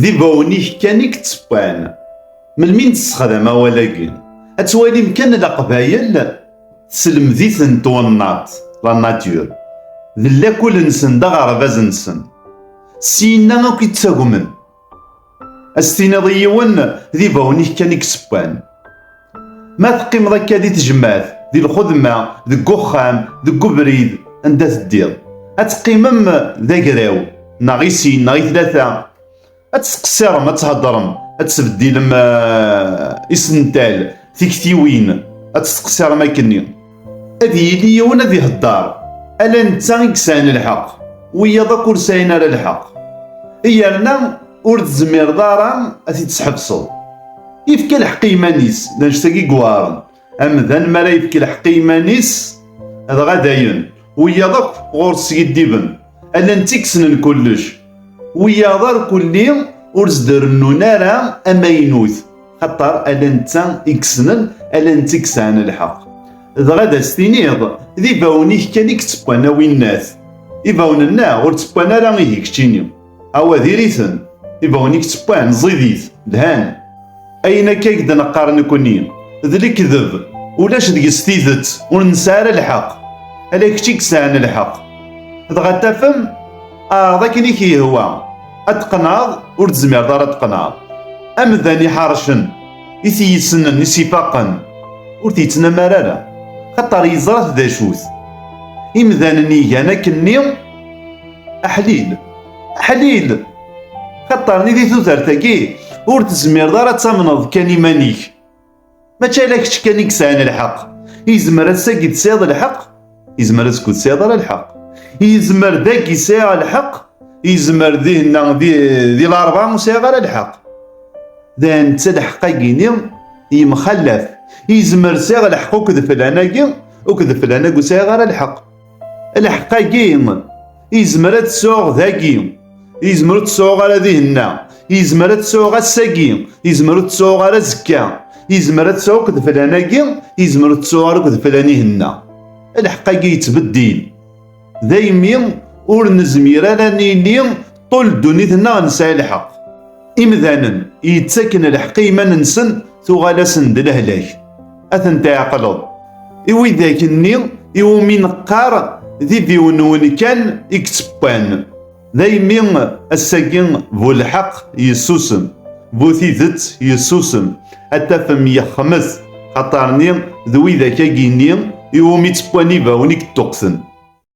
D ibawen-ik kan i yettewwan. Melmi nessexdam awal-agi, ad twalim kan Leqbayel tesselmed-iten twennaḍt, la nature, d lakul-nsen d aɣerbaz-nsen. Syin-a akk i ttagmen. Ad s-tiniḍ i yiwen, d ibawen-ik kan i yettewwan. Ma teqqimeḍ akka di tejmaɛt, di lxedma, deg uxxam, deg ubrid, anda teddiḍ, ad teqqimem d agraw, neɣ i sin, neɣ i tlata, ad tettqessirem, ad theddrem, ad tesbeddilem isental, tiktiwin, ad tettqessirem akkenni. Ad yili yiwen ad ihedder, ala netta i yesɛan lḥeqq, wiyaḍ akk ur sɛin ara lḥeqq. Yerna ur tezmireḍ ara ad t-id-tḥebseḍ. Yefka lḥeqq i yiman-is, d anect-agi yuɛren. Amdan mi ara yefk lḥeqq i yiman-is, dɣa dayen, wiyaḍ akk ɣur-s skiddiben, ala netta i yessnen kullec. Wiyaḍ irkelli ur s-d-rennun ara amaynut. Xaṭer ala netta i yessnen, ala netta i yesɛan lḥeqq. Dɣa d as-tiniḍ, d ibawen-ik kan i yettewwan a winnat. Ibawen-nneɣ ur ttewwan ara ihi keččini. Awa diri-ten, ibawen-ik ttewwan, ẓidit, lhan. Ayen akka i k-d-neqqar nekkni, d lekdeb, ulac deg-s tidet, ur nesɛi ara lḥeqq. Ala kečč i yesɛan lḥeqq. Dɣa tafem? Ɛreḍ akken i k-yehwa. ad tqenɛeḍ ur tezmireḍ ara ad tqenɛeḍ amdan iḥarcen i t-yessnen i s-ifaqen ur t-yettnamar ara xaṭer yeẓra-t d acu-t imdanen igan akken-nni aḥlil aḥlil xaṭer nidi tudert-agi ur tezmireḍ ara ad tamneḍ kan iman-ik mačči ala kečč kan i yesɛan lḥeq yezmer ass-agi tesɛiḍ lḥeq yezmer azekka ur tesɛiḍ ara lḥeq yezmer dagi sɛiɣ lḥeq yezmer dihenna di lɛerba ur sɛiɣ ara lḥeq d netta lḥeq-agi-ni yemxallaf yezmer sɛiɣ lḥeq ukk d flan-agi ukk d flan-agi ur sɛiɣ ara lḥeq Lḥeqq-agi izmer ad t-sɛuɣ dagi, izmer ur t-sɛuɣ ara dihenna, izmer ad t-sɛuɣ ass-agi, izmer ur t-sɛuɣ ara azekka, izmer ad t-sɛuɣ akked flan-agi, izmer ur t-sɛuɣ ara akked flan ihenna. Lḥeqq-agi yettbeddil. Daymi ur nezmir ara ad nili Ṭul ddunit-nneɣ nesɛi lḥeqq. Imdanen i yettaken lḥeqq i yiman-nsen tuɣal-asen d lehlak. Ad ten-tɛeqleḍ. I widak-nni i wumi neqqar d idiwenwen kan i yettewwan. Daymi ass-agi bu lḥeqq yessusem, bu tidet yessusem, ad tafem yexmet, xaṭer-nni d widak-agi-nni i wumi ttewwan ibawen i yeṭṭuqten.